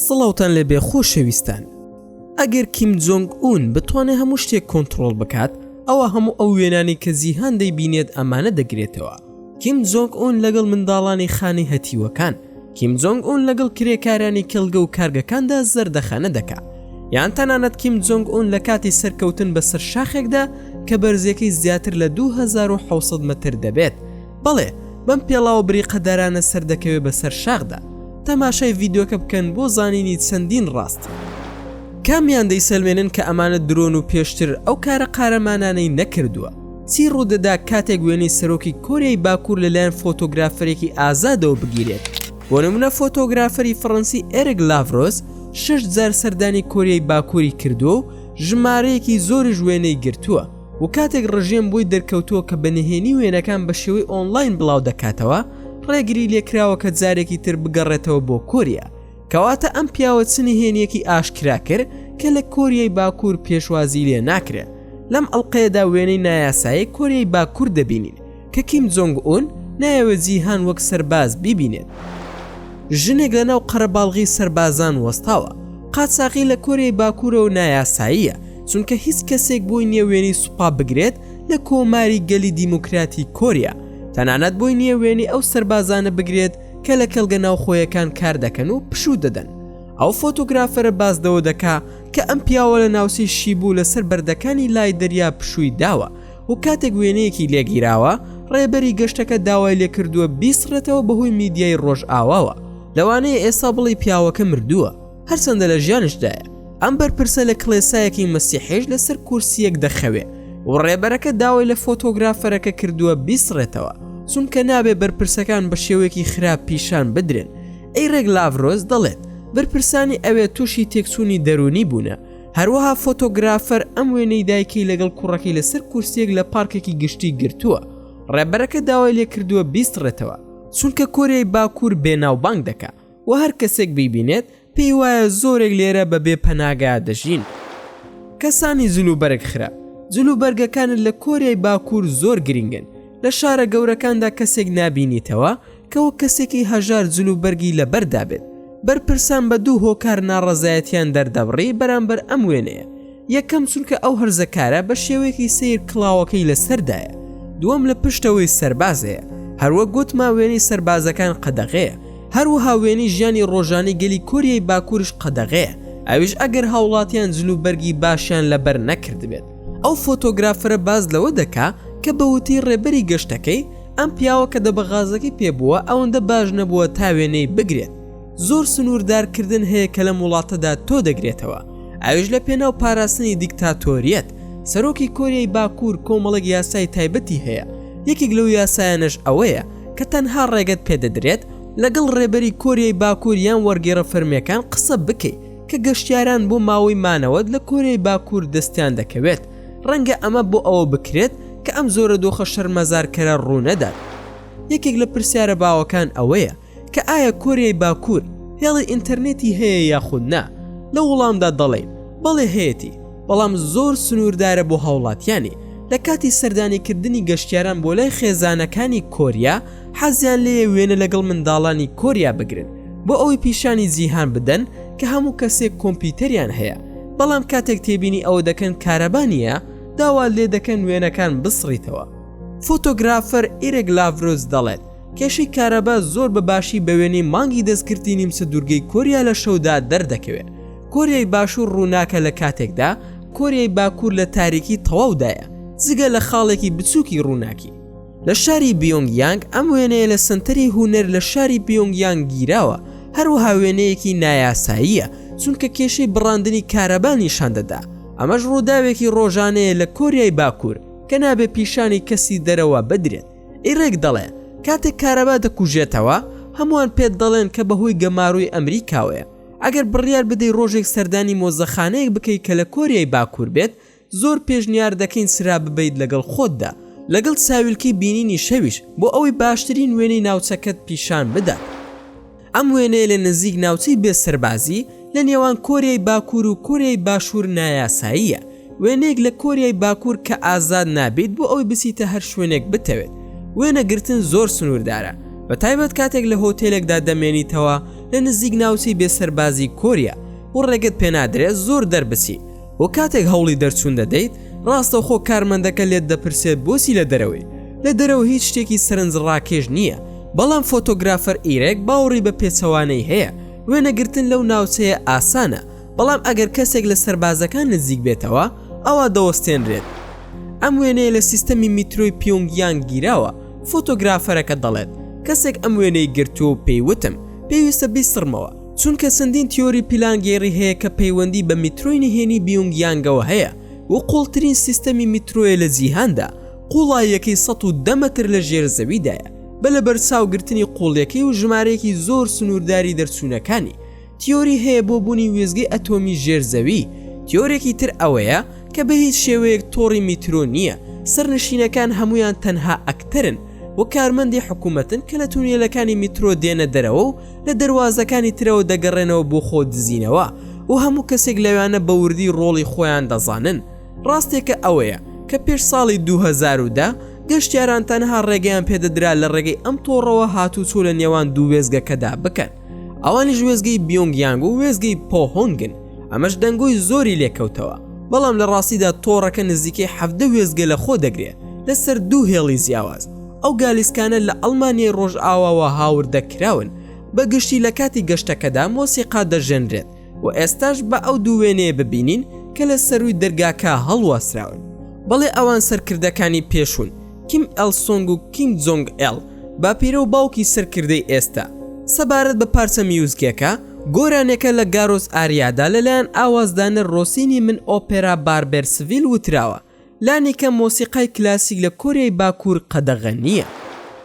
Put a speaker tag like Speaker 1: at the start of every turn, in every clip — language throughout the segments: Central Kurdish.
Speaker 1: سڵاوتان لێ بێ خۆشەویستان ئەگەر کیم جۆنگ ئون بتوانێ هەموو شتێک کۆنتترۆل بکات ئەوە هەموو ئەو وێنانی کە زیهان دەیبینێت ئەمانە دەگرێتەوە کیم جۆنگ ئون لەگەڵ منداڵانی خانەی هەتیوەکان کیم جۆنگ ئون لەگەڵ کرێکارانی کێڵگە و کارگەکاندا زەردەخەنە دەکا یان تەنانەت کیم جۆنگ ئون لە کاتی سەرکەوتن بەسەر شاخێکدا کە بەرزیەکەی زیاتر لە 2600 مەتر دەبێت بەڵێ بەم پێڵاوە بریقەدارانە سەردەکەوێ بەسەر شاخدا تەماشای ڤیددیوکە بکەن بۆ زانینی چەندین ڕاستی کامیان دەیسەلمێنن کە ئەمانە درۆن و پێشتر ئەو کارە قارەمانانەی نەکردووە چی ڕوودەدا کاتێک وێنەی سەرۆکی کۆریای باکوور لەلایەن فۆتۆگرافەرێکی ئازادەوە بگیرێت؟ بۆ نمونە فۆتۆگرافەری فەڕەنسی ئێرگ لاڤرۆس شەش جار سەردانی کۆریای باکووری کردووە و ژمارەیەکی زۆریش وێنەی گرتووە و کاتێک ڕژێم بۆی دەرکەوتووە کە بە نهێنی وێنەکان بە شێوەی ئۆنلاین بڵاو دەکاتەوە ڕێگری لێکراوە کە جارێکی تر بگەڕێتەوە بۆ کۆریا کەواتە ئەم پیاوە چ نهێنیەکی ئاشکرا کرد کە لە کۆریای باکوور پێشوازی لێ ناکرێ لەم ئەڵلقەیەدا وێنەی نایاسایی کۆریای باکوور دەبینین کە کیم جۆنگ ئون نایەوە جیهان وەک سەرباز بیبینێت ژنێک لە ناو قەرەباڵغی سەربازان وەستاوە قاچاقی لە کۆریای باکوورەوە نایاساییە چونکە هیچ کەسێک بۆی نییە وێنی سوپا بگرێت لە کۆماری گەلی دیموکراتی کۆریا تەنانەت بۆی نییە وێنی ئەو سەربازانە بگرێت کە لە کێڵگە ناوخۆیەکان کار دەکەن و پشوو دەدەن. ئەو فۆتۆگرافەرە باس دەوە دەکا کە ئەم پیاوە لە ناوچەی شیبوو لەسەر بەردەکانی لای دەریا پشووی داوە و کاتێک وێنەیەکی لێگیراوە، ڕێبەری گەشتەکە داوای لێ کردووە بیسڕێتەوە بەهۆی میدیای ڕۆژئاواوە. لەوانەیە ئێستا بڵێی پیاوەکە مردووە. هەرچەندە لە ژیانشدایە ئەم بەرپرسە لە کلێسایەکی مەسیحێش لەسەر کورسیەک دەخەوێ و ڕێبەرەکە داوای لە فۆتۆگرافەرەکە کردووە بیسڕێتەوە چونکە نابێ بەرپرسەکان بە شێوەیەکی خراپ پیشان بدرێن ئەی ڕێک لاڤرۆز دەڵێت بەرپرسانی ئەوێ تووشی تێکچوونی دەرونی بوونە هەروەها فۆتۆگرافەر ئەم وێنەی دایکی لەگەڵ کوڕەکەی لەسەر کورسیەک لە پارکێکی گشتی گرتووە ڕێبەرەکە داوای لێکردووە بیستڕێتەوە چونکە کۆریای باکوور بێناوبانگ دەکە و هەر کەسێک بیبینێت پێی وایە زۆرێک لێرە بە بێ پەناگا دەژین کەسانی زل و بەرگ خرا زل و بەرگەکانت لە کۆریای باکوور زۆر گرنگن لە شارە گەورەکاندا کەسێک نابینیتەوە کەەوە کەسێکی هەژار جل و بەرگی لە بەردابێت بەرپرسان بە دوو هۆکار ناڕەزایەتیان دەردەبڕی بەرامبەر ئەم وێنەیە یەکەم چونکە ئەو هەرزەکارە بە شێوەیەکی سیر کڵاوەکەی لەسەردایە دووەم لە پشتەوەی سەربازەیە هەروە گوتما وێنی سەربازەکان قەدەغەیە هەروەها وێنی ژیانی ڕۆژانی گەلی کۆریای باکوورش قەدەغەیە ئەویش ئەگەر هاوڵاتیان جل و بەرگی باشیان لەبەر نەکردبێت ئەو فۆتۆگرافرە باز لەوە دەکا کە بەوتی ڕێبەری گەشتەکەی ئەم پیاوە کە دەبەغازەکەی پێبووە ئەوەندە باش نەبووە تا وێنەی بگرێت زۆر سنووردارکردن هەیە کە لەم وڵاتەدا تۆ دەگرێتەوە ئەوش لە پێناو پاراستنی دیکتاتۆریەت سەرۆکی کۆریای باکوور کۆمەڵک یاسای تایبەتی هەیە یەکێک لەو یاسایانش ئەوەیە کە تەنها ڕێگەت پێدەدرێت لەگەڵ ڕێبەری کۆریای باکوور یان وەرگێڕە فەرمیەکان قسە بکەیت کە گەشتیاران بۆ ماوەی مانەوەت لە کۆریای باکوور دەستیان دەکەوێت ڕەنگە ئەمە بۆ ئەوە بکرێت کە ئەم زۆرە دۆخە شەرمەزارکەرە ڕوونەدات یەکێک لە پرسیارە باوەکان ئەوەیە کە ئایا کۆریای باکوور هێڵی ئینتەرنێتی هەیە یاخود نا، لە وڵامدا دەڵێین بەڵێ هەیەتی، بەڵام زۆر سنووردارە بۆ هاوڵاتیانی، لە کاتی سەردانیکردنی گەشتیاران بۆ لای خێزانەکانی کۆریا حەزیان لێیە وێنە لەگەڵ منداڵانی کۆریا بگرن بۆ ئەوەی پیشانی جیهان بدەن کە هەموو کەسێک کۆمپیوتەریان هەیە بەڵام کاتێک تێبینی ئەوە دەکەن کارەبا نییە داوا لێ دەکەن وێنەکان بسڕیتەوە فۆتۆگرافەر ئیرێک لاڤرۆز دەڵێت کێشەی کارەبا زۆر بە باشی بە وێنەی مانگی دەستکردی نیمچە دوورگەی کۆریا لە شەودا دەردەکەوێت کۆریای باشوور ڕووناکە لە کاتێکدا کۆریای باکوور لە تاریکی تەواودایە جگە لە خاڵێکی بچووکی ڕووناکی لە شاری بیۆنگ یانگ ئەم وێنەیە لە سنتەری هوونەر لە شاری بیۆنگ یان گیراوە هەروەها وێنەیەکی نایاساییە چونکە کێشەی بڕاندنی کارەبا نیشان دەدا ئەمەش ڕووداوێکی ڕۆژانەیە لە کۆریای باکوور کە نابێ پیشانی کەسی دەرەوە بدرێت ئیڕێک دەڵێ کاتێک کارەبا دەکوژێتەوە هەمووان پێت دەڵێن کە بەهۆی گەمارۆی ئەمریکاوەیە ئەگەر بڕیار بدەی ڕۆژێک سەردانی مۆزەخانەیەک بکەیت کە لە کۆریای باکوور بێت زۆر پێشنیار دەکەین سرا ببیت لەگەڵ خۆتدا لەگەڵ ساویلکەی بینینی شەویش بۆ ئەوەی باشترین وێنەی ناوچەکەت پیشان بدات. ئەم وێنەیە لە نزیک ناوچەی بێ سەربازی لە نێوان کۆریای باکوور و کۆریای باشوور نایاساییە، وێنەیەک لە کۆریای باکوور کە ئازاد نابیت بۆ ئەوەی بچیتە هەر شوێنێک بتەوێت، وێنە گرتن زۆر سنووردارە، بە تایبەت کاتێک لە هۆتێلێکدا دەمێنیتەوە لە نزیک ناوچەی بێ سەربازی کۆریا و ڕێگەت پێنادرێت زۆر دەربچیت، و کاتێک هەوڵی دەرچوون دەدەیت ڕاستەوخۆ کارمەندەکە لێت دەپرسێت بۆسی لە دەرەوەی لە دەرەوە هیچ شتێکی سەرنج ڕاکێش نییە بەڵام فۆتۆگرافەر ئیرێک باوەڕی بە پێچەوانەی هەیە وێنەگرتن لەو ناوچەیە ئاسانە بەڵام ئەگەر کەسێک لە سەربازەکان نزیک بێتەوە ئەوە دەوەستێنرێت ئەم وێنەیە لە سیستەمی میترۆی پیۆنگیان گیراوە فۆتۆگرافەرەکە دەڵێت کەسێک ئەم وێنەی گرتووە و پێیوتم پێویستە بیسڕمەوە چونکە چەندین تیۆری پیلانگێڕی هەیە کە پەیوەندی بە میترۆی نهێنی بیونگ یانگەوە هەیە و قوڵترین سیستەمی میترۆیە لە جیهاندا قوڵاییەکەی ١١ە مەتر لە ژێر زەویدایە بە لە بەرچاوگرتنی قوڵیەکەی و ژمارەیەکی زۆر سنوورداری دەرچوونەکانی تیۆری هەیە بۆ بوونی وێزگەی ئەتۆمی ژێر زەوی تیۆرێکی تر ئەوەیە کە بە هیچ شێوەیەک تۆڕی میترۆ نییە سەرنشینەکان هەمویان تەنها ئەکتەرن و کارمەندی حکوومەتن کە لە تونێلەکانی میترۆ دێنە دەرەوە و لە دەروازەکانی ترەوە دەگەڕێنەوە بۆ خۆ دزینەوە و هەموو کەسێک لەوانە بە وردی ڕۆڵی خۆیان دەزانن ڕاستێکە ئەوەیە کە پێش ساڵی 2010 گەشتیاران تەنها ڕێگەیان پێدەدرا لە ڕێگەی ئەم تۆڕەوە هاتوو چۆ لە نێوان دوو وێزگەکەدا بکەن ئەوانیش وێزگەی بیۆنگ یانگ و وێزگەی پۆهۆنگن ئەمەش دەنگۆی زۆری لێکەوتەوە بەڵام لە ڕاستیدا تۆڕەکە نزیکەی حەفدە وێزگە لە خۆ دەگرێت لەسەر دوو هێڵی جیاواز ئەو گالیسکانە لە ئەڵمانیای ڕۆژئاواوە هاوردە کراون بە گشتی لە کاتی گەشتەکەدا مۆسیقا دەژێنرێت و ئێستاش بە ئەو دوو وێنەیە ببینین کە لە سەروی دەرگاکە هەڵواسراون بەڵێ ئەوان سەرکردەکانی پێشوون کیم ئەل سۆنگ و کینگ جۆنگ ئێل باپیرە و باوکی سەرکردەی ئێستا سەبارەت بە پارچە میوزکێکە گۆرانێکە لە گارۆس ئاریادا لەلایەن ئاوازدانەر ڕۆسینی من ئۆپێرا باربێر سڤیل وتراوە، لانیکەم مۆسیقای کلاسیک لە کۆریای باکوور قەدەغە نییە.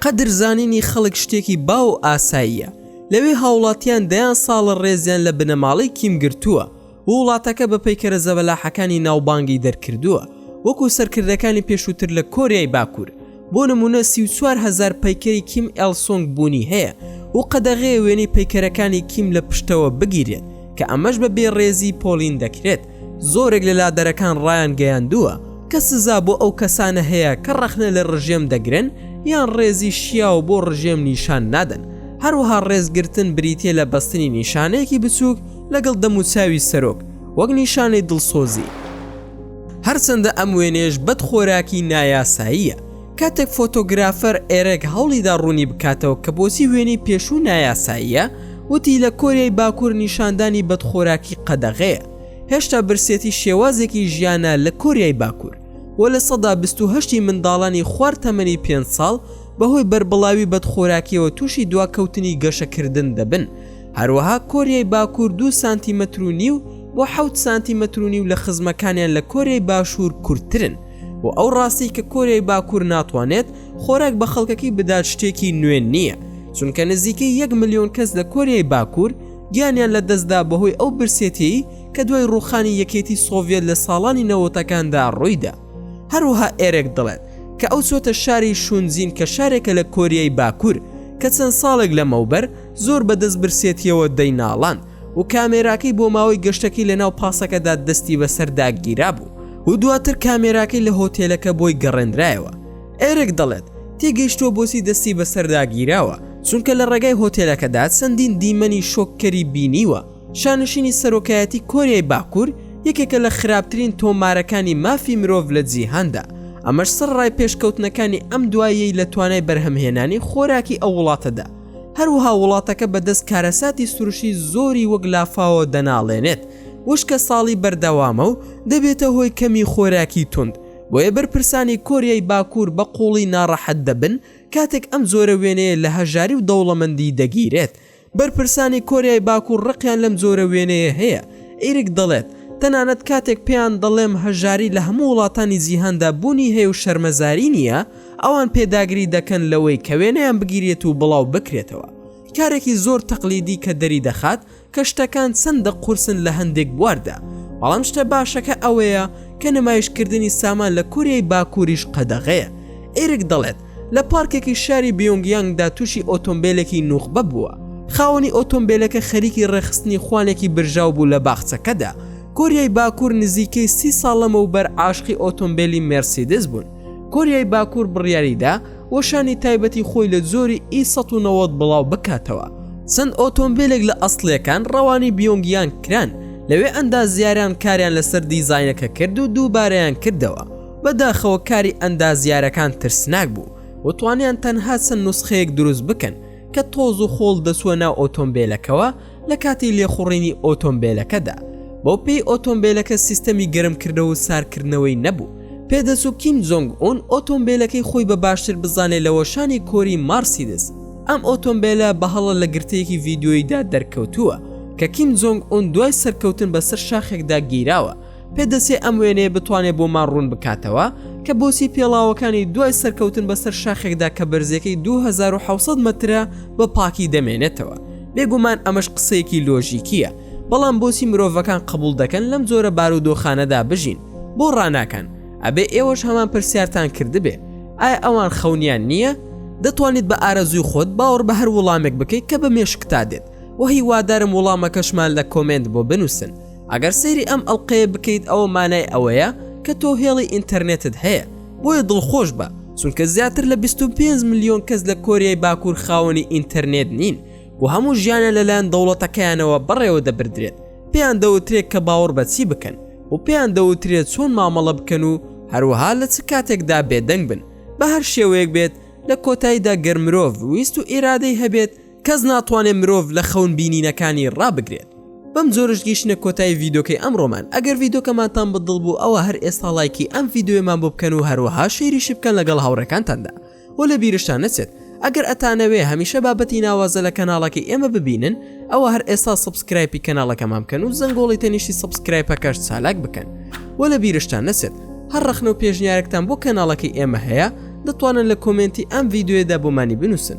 Speaker 1: قەدر زانینی خەڵک شتێکی باو و ئاساییە، لەوێ هاوڵاتیان دەیان ساڵە ڕێزیان لە بنەماڵەی کیم گرتووە، و وڵاتەکە بە پەیکەرە زەبەلاحەکانی ناوبانگی دەرکردووە وەکو سەرکردەکانی پێشووتر لە کۆریای باکوور بۆ نمونە سی و چوار هەزار پەیکەری کیم ئێڵ سونگ بوونی هەیە و قەدەغەیە وێنەی پەیکەرەکانی کیم لە پشتەوە بگیرێت کە ئەمەش بە بێڕێزی پۆڵین دەکرێت زۆرێک لە لادەرەکان ڕایانگەیاندووە کە سزا بۆ ئەو کەسانە هەیە کە ڕەخنە لە ڕژێم دەگرن یان ڕێزی شیاو بۆ ڕژێم نیشان نادەن هەروەها ڕێزگرتن بریتە لە بەستنی نیشانەیەکی بچووک لەگەڵ دەموچاوی سەرۆک وەک نیشانەی دڵسۆزی. هەرچەندە ئەم وێنەیەش بەد خۆراکی نایاساییە، کاتێک فۆتۆگرافەر ئێرێک هەوڵیدا ڕوونی بکاتەوە کە بۆچی وێنەی پێشوو نایاساییە، وتی لە کۆریای باکوور نیشاندانی بەدخۆراکی قەدەغەیە، هێشتا برسێتی شێوازێکی ژیانە لە کۆریای باکوور، و لە سەدا بیست و هەشت ی منداڵانی خوار تەمەنی پێنج ساڵ بەهۆی بەربڵاوی بەدخۆراکیەوە تووشی دواکەوتنی گەشەکردن دەبن، هەروەها کۆریای باکوور دوو سانتیمەتر و نیو بۆ حەوت سانتیمەتر و نیو لە خزمەکانیان لە کۆریای باشوور کورتترن و ئەو ڕاستی کە کۆریای باکوور ناتوانێت خۆراک بە خەڵکەکەی بدات شتێکی نوێ نییە چونکە نزیکەی یەک ملیۆن کەس لە کۆریای باکوور گیانیان لە دەستدا بەهۆی ئەو برسێتیی کە دوای ڕوخانی یەکێتی سۆڤێت لە ساڵانی نەوەتەکاندا ڕوویدا هەروها ئێرێک دەڵێت کە ئەو چۆتە شاری شونجین کە شارێکە لە کۆریای باکوور کە چەند ساڵێک لەمەوبەر زۆر بە دەست برسێتیەوە دەیناڵاند و کامێراکەی بۆ ماوەی گەشتەکەی لە ناو پاسەکەدا دەستی بەسەر داگیرا بوو و دواتر کامێراکەی لە هۆتێلەکە بۆی گەڕێنرایەوە ئێرک دەڵێت تێگەیشتووە بۆسی دەستی بەسەر داگیراوە چونکە لە ڕێگای هۆتێلەکەدا چەندین دیمەنی شۆککەری بینیوە شانشینی سەرۆکایەتی کۆریای باکوور یەکێکە لە خراپترین تۆمارەکانی مافی مرۆڤ لە جیهاندا ئەمەش سەر ڕای پێشکەوتنەکانی ئەم دواییەی لە توانای بەرهەمهێنانی خۆراکی ئەو وڵاتەدا هەروەها وڵاتەکە بەدەست کارەساتی سروشی زۆری وەک لافاوە دەناڵێنێت، وشکە ساڵی بەردەوامە و دەبێتە هۆی کەمی خۆراکی توند، بۆیە بەرپرسانی کۆریای باکوور بە قووڵی ناڕەحەت دەبن کاتێک ئەم جۆرە وێنەیە لە هەژاری و دەوڵەمەندی دەگیرێت. بەرپرسانی کۆریای باکوور ڕقیان لەم جۆرە وێنەیە هەیە، ئیرک دەڵێت، تەنانەت کاتێک پێیان دەڵێم هەژاری لە هەموو وڵاتانی جیهاندا بوونی هەیە و شەرمەزاری نییە، ئەوان پێداگری دەکەن لەوەی کە وێنەیان بگیرێت و بڵاو بکرێتەوە، کارێکی زۆر تەقلیدی کە دەریدەخات کە شتەکان چەندە قورسن لە هەندێک بواردا، بەڵام شتە باشەکە ئەوەیە کە نمایشکردنی سامان لە کۆریای باکووریش قەدەغەیە. ئیرک دەڵێت، لە پارکێکی شاری بیونگیانگدا تووشی ئۆتۆمبێلێکی نوخبە بووە، خاوەنی ئۆتۆمبێلەکە خەریکی ڕێکخستنی خوانێکی برژاو بوو لە باخچەکەدا، کۆریای باکوور نزیکەی سی ساڵ لەمەوبەر عاشقی ئۆتۆمبێلی مێرسیدس بوون، کۆریای باکوور بڕیاریدا وەشانی تایبەتی خۆی لە زۆری ئی ١٩٠ بڵاو بکاتەوە چەند ئۆتۆمبیلێک لە ئەسڵیەکان ڕەوانی بیۆنگیان کران لەوێ ئەندازیاران کاریان لەسەر دیزینەکە کرد و دووبارەیان کردەوە بەداخەوە کاری ئەندازیارەکان ترسناک بوو و توانیان تەنها چەند نوسخەیەک دروست بکەن کە تۆز و خۆڵ دەچووە ناو ئۆتۆمبیلەکەوە لە کاتی لێخوڕینی ئۆتۆمبیلەکەدا بەو پێی ئۆتۆمبیلەکە سیستەمی گەرمکردنەوە و سارکردنەوەی نەبوو پێدەچوو کیم جۆنگ ئۆن ئۆتۆمبیلەکەی خۆی بە باشتر بزانێ لە وەشانی کۆری مارسیدس ئەم ئۆتۆمبیلە بە هەڵە لە گرتەیەکی ڤیددیۆییدا دەرکەوتووە کە کیم جۆنگ ئۆن دوای سەرکەوتن بەسەر شاخێکدا گیراوە پێ دەچێ ئەم وێنەیە بتوانێت بۆمان ڕوون بکاتەوە کە بۆچی پێڵاوەکانی دوای سەرکەوتن بەسەر شاخێکدا کە بەرزیەکەی 2600 مەترە بە پاکی دەمێنێتەوە بێگومان ئەمەش قسەیەکی لۆژیکیە بەڵام بۆچی مرۆڤەکان قبول دەکەن لەم جۆرە بارودۆخانەدا بژین بۆ ڕناکەن ئەبێ ئێوەش هەمان پرسیارتان کردبێ ئایا ئەوان خەونیان نییە دەتوانیت بە ئارەزوی خۆت باوەڕ بە هەر وڵامێک بکەیت کە بە مێشکتا دێت وهیوادارم وڵامەکەشمان لە کۆمنت بۆ بنووسن ئەگەر سەیری ئەم ئەڵلقەیە بکەیت ئەوە مانای ئەوەیە کە تۆ هێڵی ئینتەرنێتت هەیە بۆیە دڵخۆش بە چونکە زیاتر لە 25 میلیۆن کەس لە کۆریای باکوور خاوەنی ئینتەرنێت نین و هەموو ژیانە لەلایەن دەوڵەتەکەیانەوە بەڕێوە دەبدرێت پێیان دەوترێت کە باوەڕ بەچی بکەن و پێیان دەوترێت چۆن مامەڵە بکەن و هەروەها لە چ کاتێکدا بێدەنگ بن بە هەر شێوەیەک بێت لە کۆتاییدا گەر مرۆڤ ویست و ئێرادەی هەبێت کەس ناتوانێت مرۆڤ لە خەون بینینەکانی ڕابگرێت بەم جۆرش گەیشتە کۆتایی ڤیدۆکەی ئەمڕۆمان ئەگەر ڤیدۆکەمانتان بەدڵ بوو ئەوە هەر ئێستا لایکی ئەم ڤیددیوێمان بۆ بکەن و هەروەها شێریش بکەن لەگەڵ هاوڕەکانتاندا و لە بیرشتان نەچێت ئەگەر ئەتانەوێ هەمیشە بابەتی ناوازە لە کەناڵەکەی ئێمە ببینن ئەوە هەر ئێستا سبسکرایپی کەناڵەکەمان بکەن و زەنگۆڵی تەنیشتی سبسکرایپەکەش چالاک بکەن و لە بیرشتان نەچێت هەر ڕەخنە و پێشنیارێکتان بۆ کەناڵەکەی ئێمە هەیە دەتوانن لە کۆمنتی ئەم ڤیددیوێدا بۆمانی بنووسن